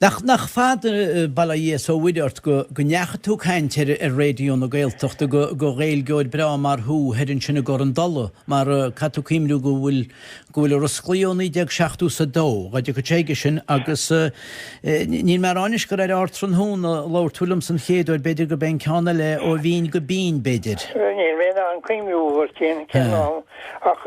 Nach nach fada bail ó Dhia is ó Mhuire ort go go ndeachaigh tú ag caint ar ar Raidió na Gaeltachta go go Gaeilgeoir breá mar thú thoir ansin i gCorr an Dola mar caithfidh tú cuimriú go bhfuil go bhfuil sé oscailte ó 1972 dá dtiocfadh sé go dtí sin agus níl mé a rá anois gur ar Ardtráthnóna a labhair tú liomsa an chéad uair b'fhéidir gurb é an ceann eile Ó Bhinn go Binn b'fhéidir. Níl mé in ann cuimriú uair cén ceann ann ach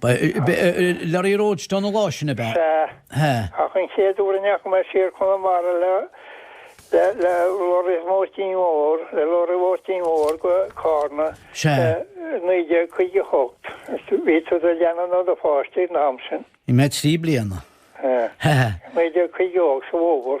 Ba leoraí roadstone an lá sin ab ea Ba hea. Ach an chéad uair a ndeachaigh mé siar Conamara le le leoraí Mháirtín Mhór, le leoraí Mháirtín Mhór go Carna Sea. 1958, bhí tú i do leanbh nó i do pháiste an t-am sin. Bhí mé trí bliana. Sea. Sea. 1958 sa bhfómhar.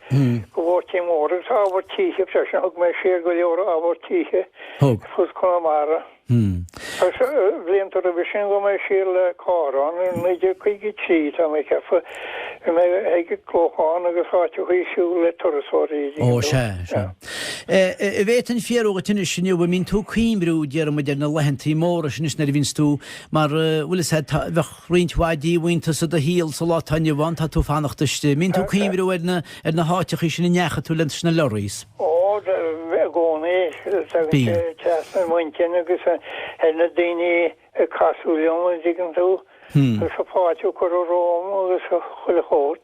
Do Mháirtín Mhór agus ábhar tithe freisin. Thug mé siar go leor ábhar tithe ar fud Chonamara agus blianta roimhe sin bhog mé siar le carr ann i 1953, tá mé ag ceapadh. Bhí mé ag Clochán agus áiteachaí ag siúl le turasóirí Ó sea. An bhféadfainn fiafraí dhíot anois inniu an mbíonn tú ag cuimriú, déarfainn, ar na laethanta móra sin anois nuair a bhíonns tú mar, bhuel, is ea, bheadh, roinnt mhaith díomhaointeas i do shaol sa lá atá inniu ann, tá tú ag fanacht istigh, an mbíonn tú ag cuimriú ar na, ar na háiteachaí sin a ndeachaigh tú leat sna lorries. Ó, i gcónaí, tagann sé trasna i m'intinn agus ar na daoine a casadh liom, an dtuigeann tú, agus an fáilte a cuireadh romham agus chuile shórt.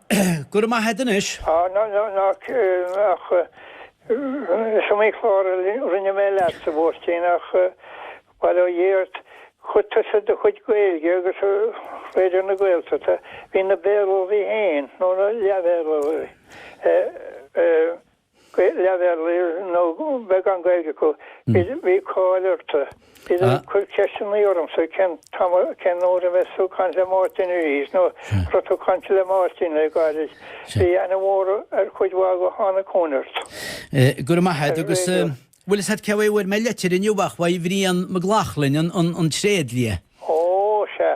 Go raibh maith a'd anois. Ach is iomaí clár a rinne mé leat sa bPoirtín ach, bail ó Dhia ort, chuid tusa do chuid Gaeilge agus Raidió na Gaeltachta, bhí na Béarlóirí féin, nó na leath-Bhéarlóirí, leath-Bhéarlóirí nó beagán Gaeilge acu. Bhí cáil ort. Iad ag cur ceisteannaí ormsa cén t-am cén uair a bheas tú ag caint le Máirtín arís nó an raibh tú ag caint le Máirtín le gairid. Bhí aithne mhór ar chuid mhaith acu a tháinig chugainn ort. Go raibh maith agat agus bhuel a fhios a'd cé bhfuair mé leitir inniu ach uaidh Bhrian McLaughlin, an tréadlia, Ó, sea.